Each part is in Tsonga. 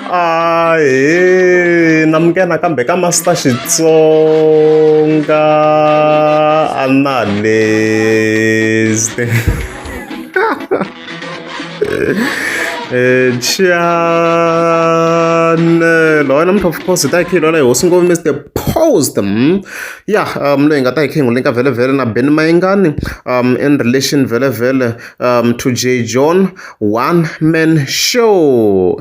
ahe na muke nakambe ka master xitsonga analyst chanelo wena mntu of course ta ikhiyi lona hi hosi ngopfu mr post hmm? ya um loyi hi nga ta ikhiyi ngule nka vhele vhele na ben mayingani um in relation vhele vhele um, to J. John One Man Show.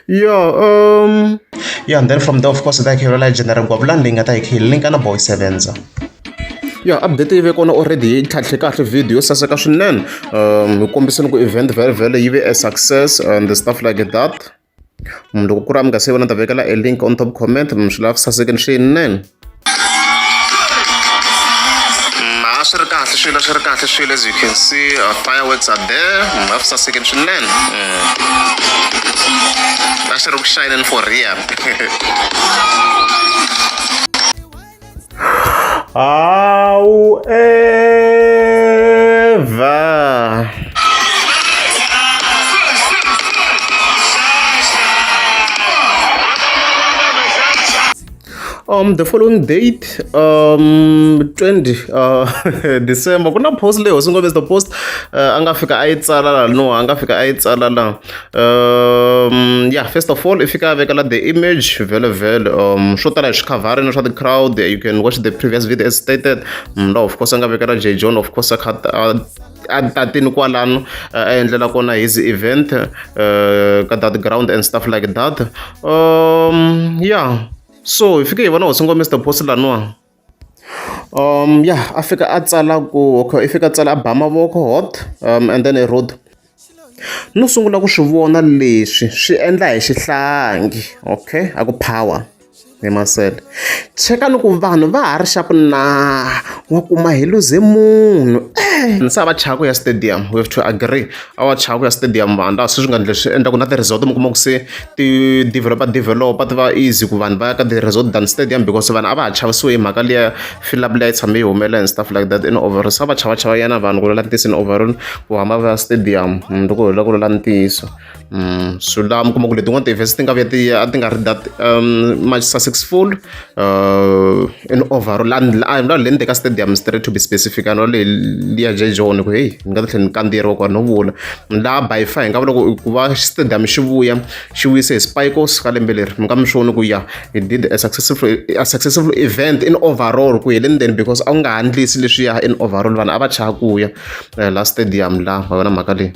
yeah, um. Yeah, and then from there, of course, that he realized General Gwablan Linga, that he link and a boy sevens. ya update yi ve kona already yi tlhatlhe kahle video yo saseka swinene um hi kombiseni ku event vhele vhele yi ve a success and stuff like that munhu loko ku ri a mi nga se vona ta vekela e link on top comment mi swi lava ku sasekeni swinene mm, a swi ri kahle swilo swi ri kahle swilo as you can see uh, fireworks are there mi nga ku sasekeni swinene mm. a swi ri ku shayineni for real Au Eva! um the following date um 20 uh, december ku na post leyi hosi ngombe the post uh, a nga fika a yi tsala la no a nga fika a yi tsala la um yeah first of all if you can vekela the image vele vele um swo tala hi swikhavharini swa the crowd you can watch the previous video as stated mm, no of course a nga vekela j john of course a kha a tatini kwalano a endlela kona his event uh, ka that ground and stuff like that um yeah so hi fike hi vona hosi ngomr post laniwa ya a fika a tsala ku okay i fika a tsala a ba mavoko hot and then road no sungula ku swi vona leswi swi endla hi xihlangi okay a ku power hi masele cheka ni ku vanhu va ha ri xaku na wa kuma hi luze munhu e misava chaka ya stadium we have to agree. a wa chava ku ya stadium vandla se swi nga ndle swi endla ku na ti-resort mi kuma ku se ti-developa developa ti va easy ku vanhu va ya ka ti-resort than stadium because vanhu a va ha chavisiwe hi mhaka liya filap liya yi tshame yi humela and stuff like that in overall se a va chava chava yana vanhu ku lula ntiyiso in overall ku hamba va ya stadium mm, loko hi lula ku lula ntiyiso mm, so laha mi kuma ku letin'wana ti-events ti nga vuya ti a ti nga ri that um much successful uh, in overall a ni lavi le ni teka stadium straight to be specific a ni lavi leyi ya jay john ku heyi ni nga ta tlhela ni kandziyeriwa ku a no vula ni laha by far hi nga vula ku va stadium xi vuya xi vuyise hi spikos ka lembe leri mi nga mi swoni ku ya he did a successful, a successful event in overall ku heleni then because a wu nga handlisi leswiya in overall vanhu a va chaya ku ya eh, la stadium la wa yona mhaka leyi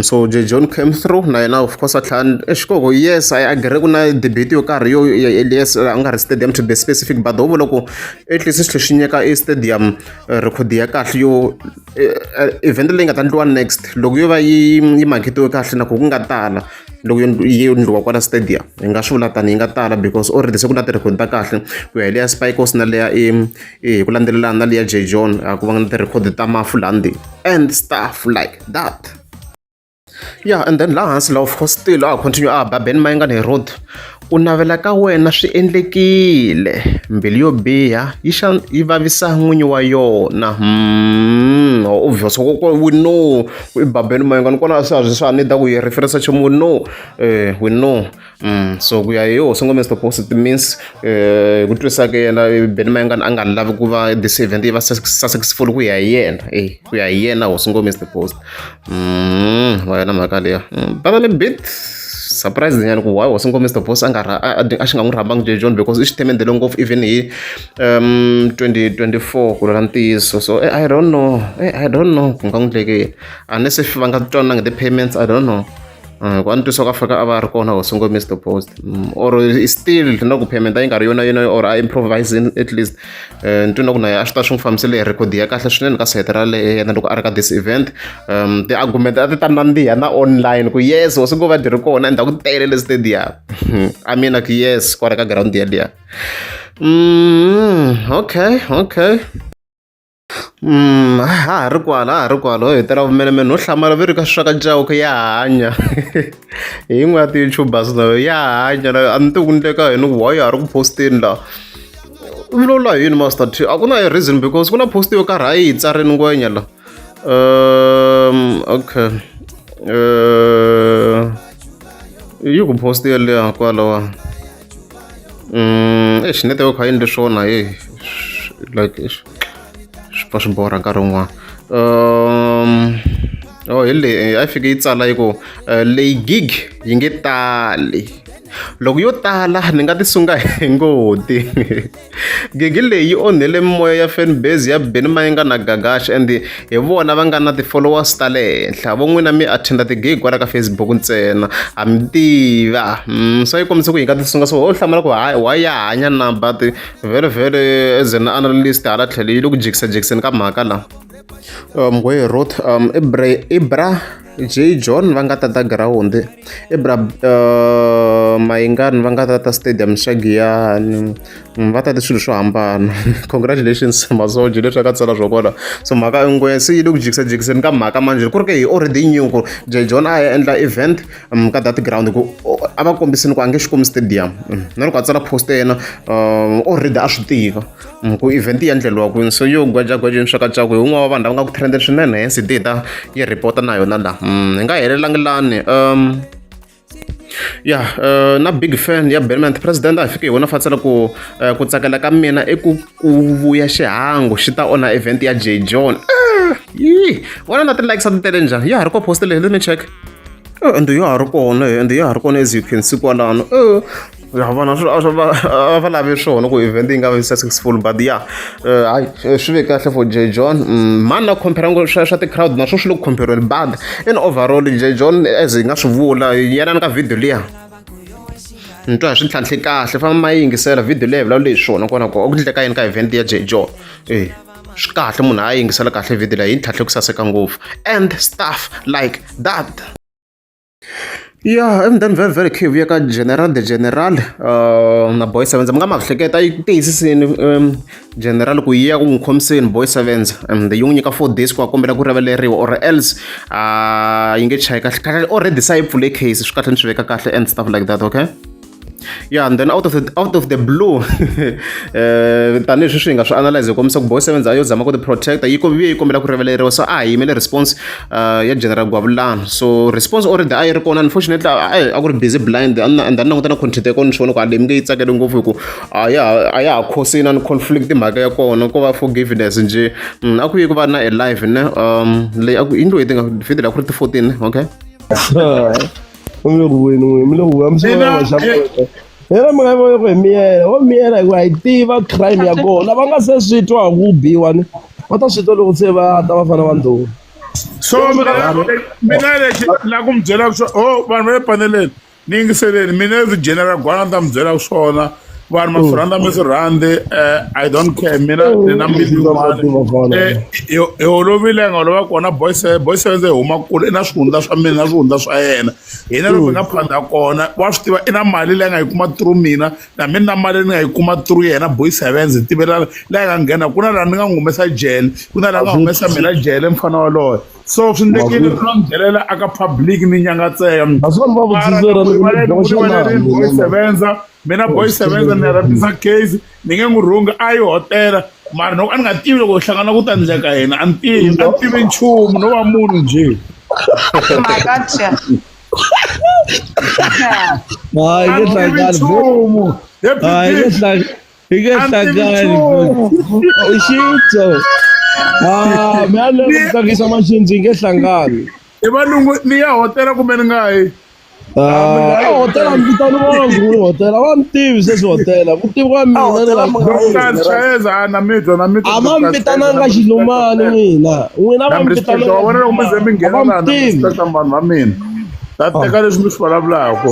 So John Cashmore na yena of course a tlhela a xihoko yes I agree ku na debate yo karhi yo yes a nga ri stadium to be specific but ho vula ku at least xi tlhela xi nyika e stadium record ya kahle yo event leyi nga ta endliwa next loko yo va yi yi maketiwe kahle na ku ku nga tala loko yi endliwa kwala stadium hi nga swi vula tani yi nga tala because already se ku na ti-record ta kahle ku ya hi leya Spikes na leya i hi ku landzelelana na leya jay john a ku va nga na ti-record ta mafu landi and stuff like that ya and then laha hansi laha of course still a continue a ba ben mayengani hi road ku navela ka wena swi endlekile mbilu yo biha yi xa yi vavisa n'winyi wa yona hmm, obvious koko we know i babeni mayengani kona a swi a swi swa ni da ku yi referensa nchumu we know um we know Mm, so ku ya hi hosi ngome mr post it means eh, hi ku twisisa ka yena eh, beni mayengana a nga lavi ku va this event yi va sas- successful ku ya hi yena eh, ku ya hi yena hosi ngome mr post Mm, wa yona mhaka leya Mm, but a little bit surprise nyana ku why hosi ngome mr post a nga ra- a- a- a xi nga n'wi rhambangi j john because i xi themendele ngopfu even hi um 2024 ku lula ntiyiso so eh, i don't know eh, i don't know ku nga n'wi ndleke yini unless if va nga twanangi the payments i don't know Mm, kwani twiswa ka faka a va ri kona hosi ngo mr post mm, or still na ku payment a yi nga ri yona yona or a improvise at least eh, ni twi na ku naye a swi ta swi n'wi fambisele hi record ya kahle swinene ka site ra lehe yena loko a ri ka this event um ti-argument a ti ta nandziha na online ku yes hosi ngo va dyi ri kona and a ku tele le stadium a mina ku yes kwala ka ground yaliya mm, okay okay ha ha ri kwala ha ri kwala ho hetela vumenemene no hlamala vi ri ka swaka cauke ya hanya hi yin'we ya ti-youtubers nayo ya hanya nayo a ni ti ku ndleka yini ku why a ri ku posteni la u lola hi yini master t a ku na hi reason because ku na post yo karhi a yi hi tsarini ngwenya la um okay um yi ku post yeleyo kwalawa exi mm, network ha yini leswona e like swi pfa swi borha nkarhi wun'wana um o oh, hi leyi eh, a yi fike yi tsala yi ku eh, leyi gig yi nge tali loko yo tala ni nga ti sunga hi ngoti gigi leyi yi onhele mimoya ya fan base ya Benny Mayenga na Gagash and hi vona va nga na ti-followers ta le henhla vo n'wina mi attenda ti-gig kwala ka Facebook ntsena ha mi tiva mm, so yi kombisa ku yi nga tisunga so ho hlamala ku wa ya hanya na but very very as an analyst hala tlhelo yi le ku jikisajikiseni ka mhaka la um, ngwehe roth um, ibra, ibra J John va nga tata girawundi Ibra uh, Mayingani va nga tata stadium xa Giyani mm, va tate swilo swo hambana congratulations masoji leswi aka tsala swo kona so mhaka ingwe se yi le ku jikisajikiseni ka mhaka manjhe ku ri ke hi already new ku J John a ya endla event um, ka that ground ku a va kombisini ku a nge xi kumi stadium mm, na loko a tsala post yena um, already a swi tiva ku event yi endleriwa kwini so yo gwajagwaja mixakatswako hi un'wana wa vanhu lava nga ku trendeni swinene hence hi data yi report na yona laha mm, hi nga helelangi lani um ya uh, na big fan ya Belmont president a fike hi wona fatsela ku uh, ku tsakela ka mina i ku ku vuya xihangu xi ta onha event ya J John ah, yi wona na ti-likes a ti tele njhani ya ha ri ko post leyi let me check eh, and ya ha ri kona eh, and ya ha ri kona as you can see kwalano eh, ya vona swi swi- va a va lavi swona ku event yi nga va successful but ya eh, hayi eh, swi ve kahle for j john Mm, mani na compare ngo swa swa ti-crowd naswo swi le ku compare bad in overall j john as hi nga swi vula yelani ka video liya ni twa hi swi ntlhantlhe kahle famba ma yingisela video leyi vulavula hi swona kona ko ku ndleka yini ka event ya j john e swi kahle munhu a yingisela kahle video leyi yi ntlhantlhe ku saseka ngopfu and stuff like that Ya and then very very curve ya ka General the General na Boy Sevenza mi nga ma hleketa yi tiyisisile General ku yi ya ku n'wi khomiseni Boy Sevenza and yi n'wi nyika four days ku a kombela ku rivaleriwa or else yi nge chayi kahle kahle already se yi pfule case swi kahle ni swi veka kahle and stuff like that okay. ya and then out of the, out of the blue eh, tanihi sweswi hi nga swi analyze hi kombisa ku boy seven yo zama ku ti protecta yi vuye yi kombela ku rivaleriwa so a hi yimele response eh, ya general gwavulana so response already a yi ri kona unfortunately a ku ri busy blind and a ni languta na content ya kona ni swi vona ku a leyi mi nge yi tsakele ngopfu hi ku a ya a ya ha khosini a ni conflict mhaka ya kona ko va forgiveness nje mm, a ku yi ku va na a live ne um leyi a ku yi ndlo yi tinga fidela ku ri ti-fourteen okay u mi rhuweni n'wini mi le ku vuya mi sungula Mina, vaxa eh, n'wina hera mi nga yi voni ku hi miyela wo miyela hikuva hi tiva crime ya kona va nga se swi twa hi ku biwa ni va ta swi twa loko se va ta va fana va ndhuma so mina mina lexi la ku mi byela swo o vanhu va le paneleni ni yingiseleni mina as general gwana ni ta mi byela swona vanhu ma swi rhandza mi swi rhandzi eh, i don't care mina ni na hi olovile nga olova kona boyse boyse ndze hi huma kule i na swihundla swa mina na swihundla swa yena hina loko hi nga phanda kona wa swi tiva i na mali leyi nga yi kuma through mina na mina na mali ni nga yi kuma through yena boyse venze tivelana leyi nga nghena ku na laha ni nga n'wi humesa jele ku na laha nga humesa mina jele mfana waloye so swi ndlekile ri no nghelela aka public ni nyangatseka boy sevenza mina boy sevenza ni rhambisa case ni nge n'wi rhungi a yi hotela mara loko a ni nga tivi loko hi hlangana ku ta ndleka yena a ni tivi a ni tivi nchumu no va munhu njhe hayi nge hlangani hayi nge hlangani Hi nge hlangani i xitso ah mi a lava ku tsakisa maxinzi hi nge hlangani i valungu ni ya hotela kumbe ni nga yi Ah, hotela mi vitani vona ku ri hotela va mi tivi sweswi hotela ku tivi ka mina ni nga Dr. Chayeza a na mi twa na mi twa a va mi vitananga xilumani n'wina n'wina va mi vitananga wa vona loko mi ze mi nghena va mi laha na tivi respect vanhu va mina ta teka leswi mi swi vulavulaka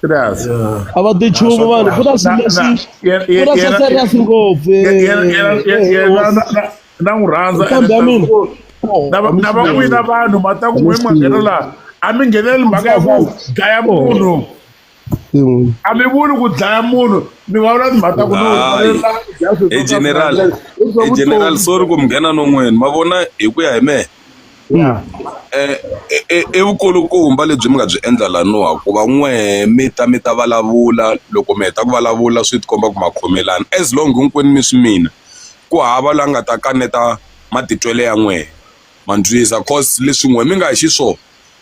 Tirasi. a va tichumu vanhu purasi leswi purasi a serious ngopfu na n'wi rhandza kambe ya mina na van'wina vanhu ma ta ku n'we ma nghena laha a mi ngheneleli mhaka ya ku dlaya munhu a mi vuli ku dlaya munhu mi va vula timhaka ta ku no general general sorry ku mi nghena non'wini ma vona hi ku ya hi mehe Yeah. Eh, eh, eh, i vukulukumba lebyi mi nga byi endla laniwa ku va n'wehe mi ta mi ta vulavula loko mi heta ku vulavula swi tikomba ku ma khomelana as long hinkwenu mi swi mina ku hava la nga ta kaneta matitwele ya n'wehe ma ndlwisa cause leswi n'we mi nga hi xiswona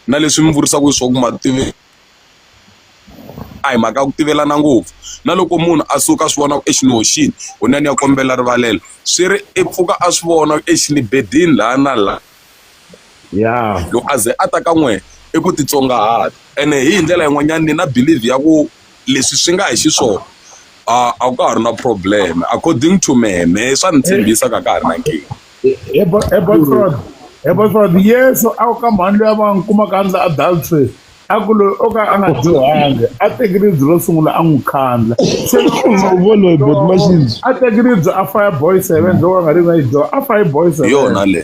na leswi mi vurisaka swona ku ma tivi a hi mhaka ya ku tivelana ngopfu na loko munhu a suka a swi vona ku exi ni hoxini kunene ni ya kombela rivalelo swi ri i pfuka a swi vona exi ni bedini laha na laha ya loko a ze a ta ka n'wina i ku titsongahata ene hi ndlela yin'wanyana ni na believe ya ku leswi swi nga hi xiswona a a ka ha ri na problem according to mehe mehe swa ni tshembisa ka ka ha ri na nkingha Ebatswadi Yesu a wu ka mhani loyi a va n'wi kumaka a ndla adultery a ku loyi o ka a nga dyohanga a teki ribye ro sungula a n'wi khandla se voloyi botmaxibyi a teki ribye a faya boy seven loko a nga ri na yi dyoha a fayi boy seven yona le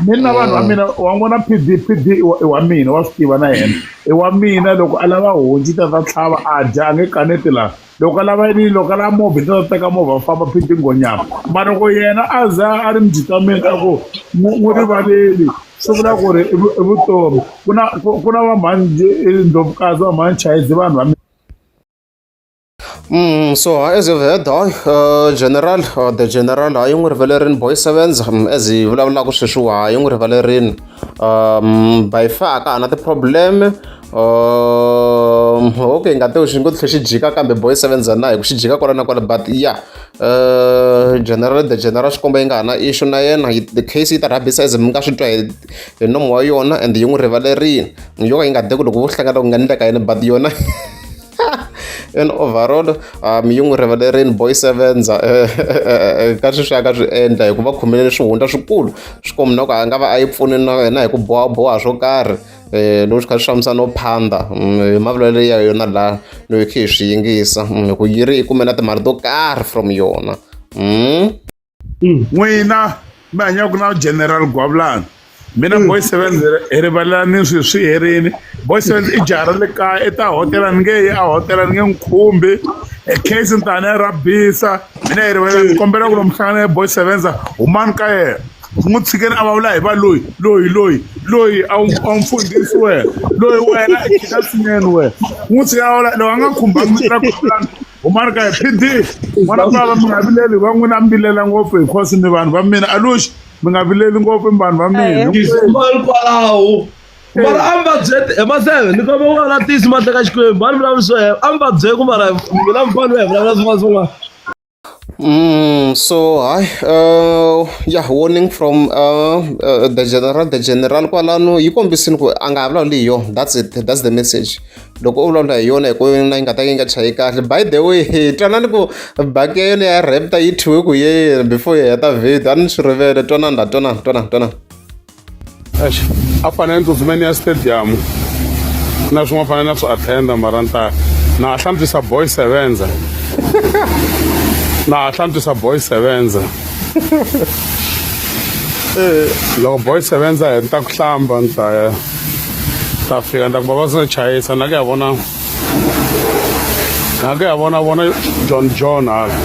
ni na vanhu va mina wa n'wi vona p d p d i wa mina wa swi tiva na yena i wa mina loko a lava honci ta ta tlhava a dya a nge kaneti laha loko a lava yini loko a lava movha hi ta teka movha va famba phiti nghonyama mara loko yena a za a ri mudyitameni a ku n'wi rivaleli swi vula ku ri i vutomi ku na ku na vamhani ndlovukazi vamhani chayezi vanhu va Mm, so as you've heard hayi uh, general uh, the general hayi n'wi rivalerini boy sevens um, as hi vulavulaka sweswiwa hayi n'wi rivalerini um by far ka ha na ti-problem Um, okay ngateho xi ngo tlhe xi jika kambe boy seven za na hi ku xi jika kwala na kwala but ya yeah. uh, general the general xikomba yi nga ha na issue na yena the case yi ta rhabisa as mi nga swi twa hi hi nomo wa yona and yi n'wi rivalerile yo ka yi nga de ku loko vo hlangana ku nga ni ka yena but yona and overall um yi n'wi rivalerile boy sevens eh, eh, eh, ka swi swi a ka swi endla hikuva khomelele swihundla swikulu swi kombina ku a nga va a yi pfuni na yena hi ku bohaboha swo karhi eh loko xi kha xi fambisa no phanda mm, mavulelo ya yona la loyi khe hi swi yingisa mm, hi ku yi ri yi kume na timali to karhi from yona mm. n'wina mi hanyaka na general gwavulani mina mm. boy seven hi rivalelani swi swi herini boy seven i jara le kaya i ta hotela ni nge yi a hotela ni nge n'wi khumbi e case ni ta ni ya rabisa mina hi rivalelani mm. kombela ku lomuhlangana ya boy sevenza humani ka yena Ku n'wi tshikela a vulavula hi va loyi loyi loyi loyi a wu a wu mfundhisi wena loyi wena i khida swinene wena u n'wi tshikela a vulavula loyi a nga khumbanga mi tirha khulani humani ka hi PD n'wana bava mi nga vileli va n'wina mi vilela ngopfu hi khosi mi vanhu va mina aluxi mi nga vileli ngopfu mi vanhu va mina Tismal kwalaho mara a mi va byete hi mahleve ni komba ku va na tisi mahle ka xikwembu a ni vulavuli swo hela a mi va byele ku mara mina mufana we hi vulavula swin'wana swin'wana Mm, so hi uh, yeah warning from uh, uh, the general the general kwalano yi kombisini ku a nga ha vulavuli hi yona that's it that's the message loko u vulavula hi yona hi ku na yi nga ta yi nga chayi kahle by the way twanani ku baki ya yona ya rapta yi thyiwe ku yeyena before yi heta video a ni swi rivele twanani la twanani twanani twanani Eish, a fanele ni tsutsuma ni ya stadium na swin'wana fanele na swi attenda mara ni ta na ha hlantswisa boy sevenza na ha hlantswisa boy sevenza loko boy sevenza hi ni ta ku hlamba ni ta ya ta fika ni ta ku baba swi chayisa na ku ya vona na ku ya vona vona john john hala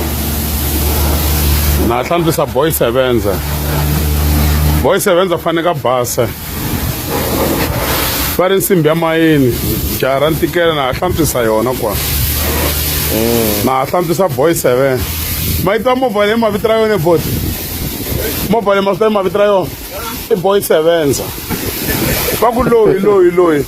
na hlantswisa boy sevenza boy sevenza fanele ka basa va ri nsimbi ya mayini jaha ra ntikela na ha hlantswisa yona kwa mm. na ha hlantswisa boy seven ma yi ta movha leyi mavito ra yona ebot movha leyi mavito leyi mavito ra yona i boy sevenza va ku loyi loyi loyi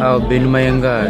Hao Bin Mayenga